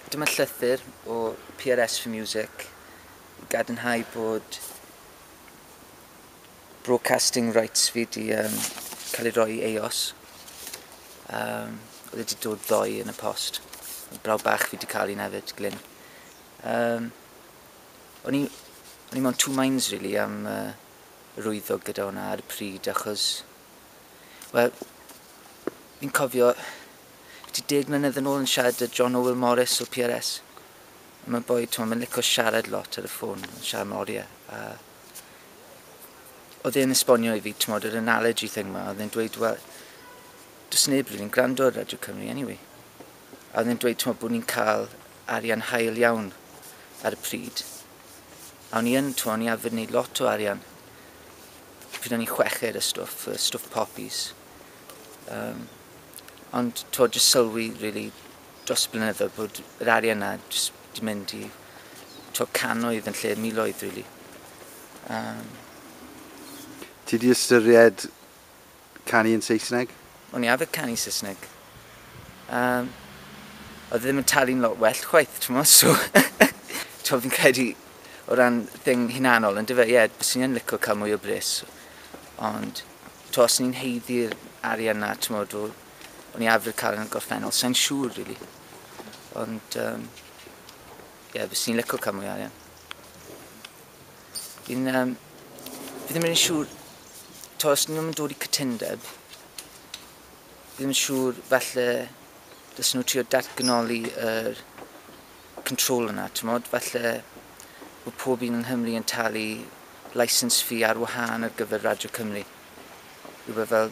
Dyma llythyr o PRS for Music i gadarnhau bod broadcasting rights fi di um, cael ei roi i EOS. Um, oedd wedi dod ddoe yn y post. Oedd braw bach fi wedi cael un hefyd, Glyn. Um, o'n i, o'n i mewn two minds, really, am uh, rwyddo gyda hwnna ar y pryd, achos Wel, fi'n cofio ti deg mlynedd yn ôl yn siarad â John Owyl Morris o PRS. A mae'n boi, ti'n mae'n licio siarad lot ar y ffôn, yn siarad am oriau. A oedd e'n esbonio i fi, ti'n yr analogy thing ma, oedd e'n dweud, wel, does neb rili'n gwrando ar Radio Cymru anyway. A oedd e'n dweud, ti'n bod ni'n cael arian hael iawn ar y pryd. A o'n i yn, ti'n o'n i arfer wneud lot o arian Pryd o'n i'n chweched a stwff, yy stwff popis. Yym ond t'wod jyst sylwi rili dros y blynyddoedd bod yr arian 'na jyst 'di mynd i t'wo' cannoedd yn lle miloedd rili. Yym. Ti 'di ystyried canu yn Saesneg? O'n i arfer canu Saesneg. Yym, oedd e ddim yn talu'n lot well chwaith, t'mod, so t'mod fi'n credu o ran thing hunanol yndyfe? Ie, yeah, byswn i yn lico cael mwy o bres. Ond t'mo' os ni'n heiddi'r arian 'na t'mod o o'n i arfer cael yn y gorffennol, sa'n siŵr rili. Ond yym ie, yeah, fyswn i'n lico cael mwy o arian. Fi'n yym fi ddim rili'n siŵr t'o' os 'dyn nw'm yn dod i cytundeb fi ddim yn siŵr falle dylsen nw trio datganoli yr control yna t'mod falle bo' pob un yng Nghymru yn talu licence fee ar wahân ar gyfer Radio Cymru. Rwbeth fel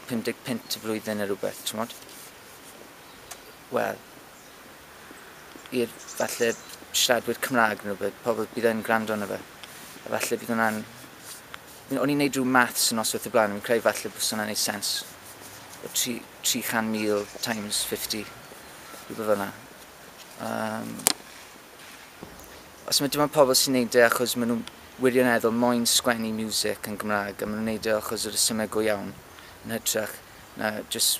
pum deg punt y flwyddyn ne' rwbeth t'mod? Wel, i'r falle siaradwyr Cymraeg neu rhywbeth, pobl bydd yn gwrando arno fe. A falle bydd hwnna'n... O'n i'n neud rhyw maths yn noswaith y blaen, fi'n credu falle bys hwnna'n neud sens. O 300,000 times 50, rhywbeth fel yna. Um, os mae dim ond pobl sy'n neud e achos maen nhw'n wirioneddol moyn sgwennu music yn Gymraeg a maen nhw'n neud e achos yr ysymau go iawn yn hytrach na just